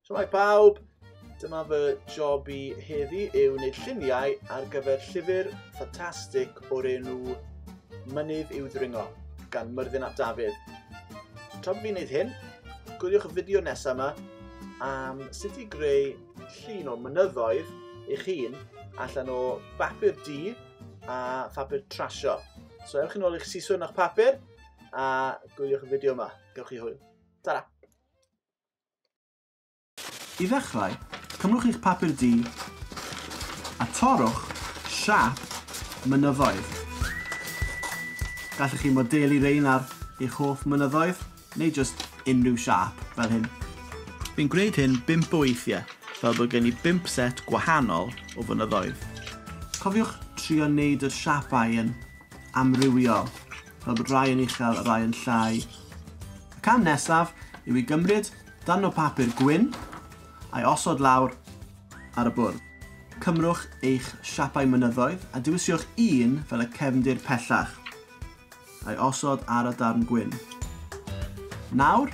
Shwmae pawb! Dyma fy job i heddi yw wneud lluniau ar gyfer llyfr ffantastig o'r enw Mynydd i'w ddringo gan Myrddin ap Dafydd. Tra bod fi'n gwneud hyn, gwyliwch y fideo nesaf yma am sut i greu llun o mynyddoedd eich hun allan o bapur du a phapur trasio. So ewch yn ôl i'ch siswrn o'ch papur a gwyliwch y fideo yma. Gewch chi hwyl. Ta-ra! I ddechrau, cymrwch eich papur du a torrwch siap mynyddoedd. Gallwch chi modelu rein ar eich hoff mynyddoedd, neu jyst unrhyw siap, fel hyn. Fi'n gwneud hyn bump o weithiau, fel bod gen i bump set gwahanol o fynyddoedd. Cofiwch trio wneud yr siapau yn amrywiol. fel bod rhai yn uchel a rhai yn llai. Y cam nesaf yw i gymryd darn o bapur gwyn a'i osod lawr ar y bwrdd. Cymrwch eich siapau mynyddoedd a diwisiwch un fel y cefndir pellach, a'i osod ar y darn gwyn. Nawr,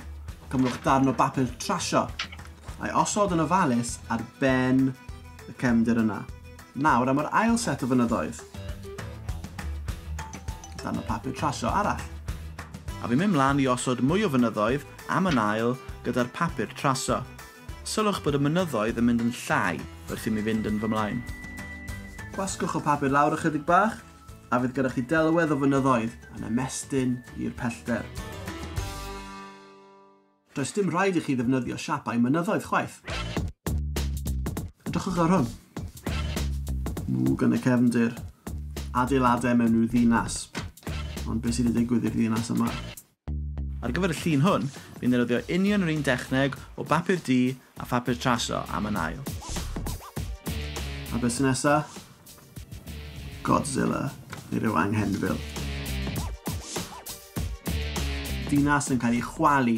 cymrwch darn o bapur trasio, a'i osod yn ofalus ar ben y cefndir yna. Nawr am yr ail set o fynyddoedd. Dan y papur trasio arall. A fi'n mynd mlan i osod mwy o fynyddoedd am yn ail gyda'r papur traso. Sylwch bod y mynyddoedd yn mynd yn llai wrth i mi fynd yn fy mlaen. Gwasgwch y papur lawr ychydig bach a fydd gyda chi delwedd o fynyddoedd yn ymestyn i'r pellter. Does dim rhaid i chi ddefnyddio siapau mynyddoedd chwaith. Edrychwch ar hwn. Mwg yn y cefndir. Adeiladau mewn rhyw ddinas. Ond beth sydd wedi digwydd i'r ddinas yma? Ar gyfer y llun hwn, fi'n ddefnyddio union yr un dechneg o bapur du a phapur traso am yn ail. A beth sy'n nesa? Godzilla neu ryw anghenfil. Dinas yn cael ei chwalu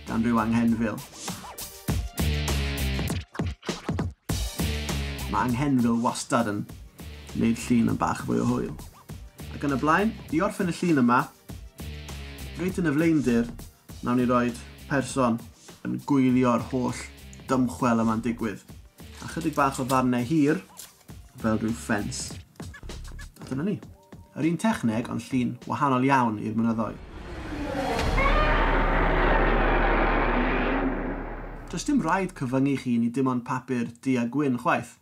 gan ryw anghenfil. Mae anghenfil wastad yn wneud llun yn bach fwy o hwyl. Ac yn y blaen, i orffen y llun yma, reit yn y flaendir, nawn ni roed person yn gwylio'r holl dymchwel yma'n digwydd. A chydig bach o ddarnau hir, fel rhyw ffens. A dyna ni. Yr un techneg ond llun wahanol iawn i'r mynyddoedd. Does dim rhaid cyfyngu chi ni dim ond papur du a gwyn chwaith.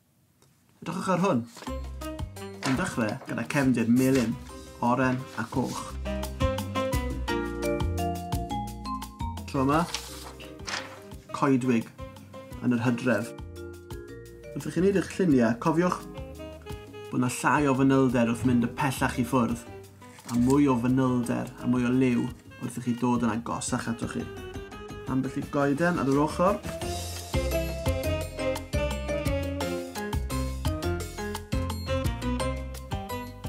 Edrychwch ar hwn. Yn dechrau gyda cefndir melyn, oren a coch. Tro yma, coedwig yn yr hydref. Wrth i chi wneud eich lluniau, cofiwch bod yna llai o fanylder wrth mynd y pellach i ffwrdd, a mwy o fanylder a mwy o liw wrth i chi dod yn agosach ato chi. Ambell i goeden ar yr ochr.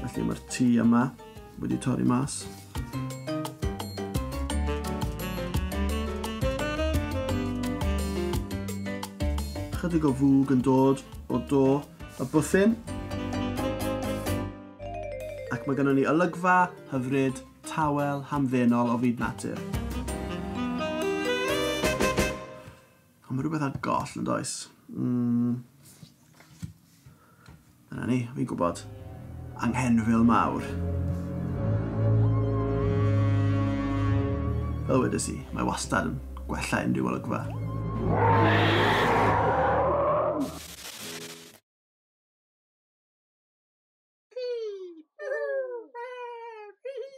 Felly mae'r tŷ yma. Wedi torri mas. Chydig o fwg yn dod o do y bwthyn. Ac mae gennym ni olygfa hyfryd tawel hamddenol o fyd natur. O, mae rhywbeth ar goll yn does. Mm. Dyna ni, fi'n gwybod. Anghenfil mawr. Fel wedys i, mae wastad yn gwella unrhyw olygfa.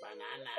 Banana.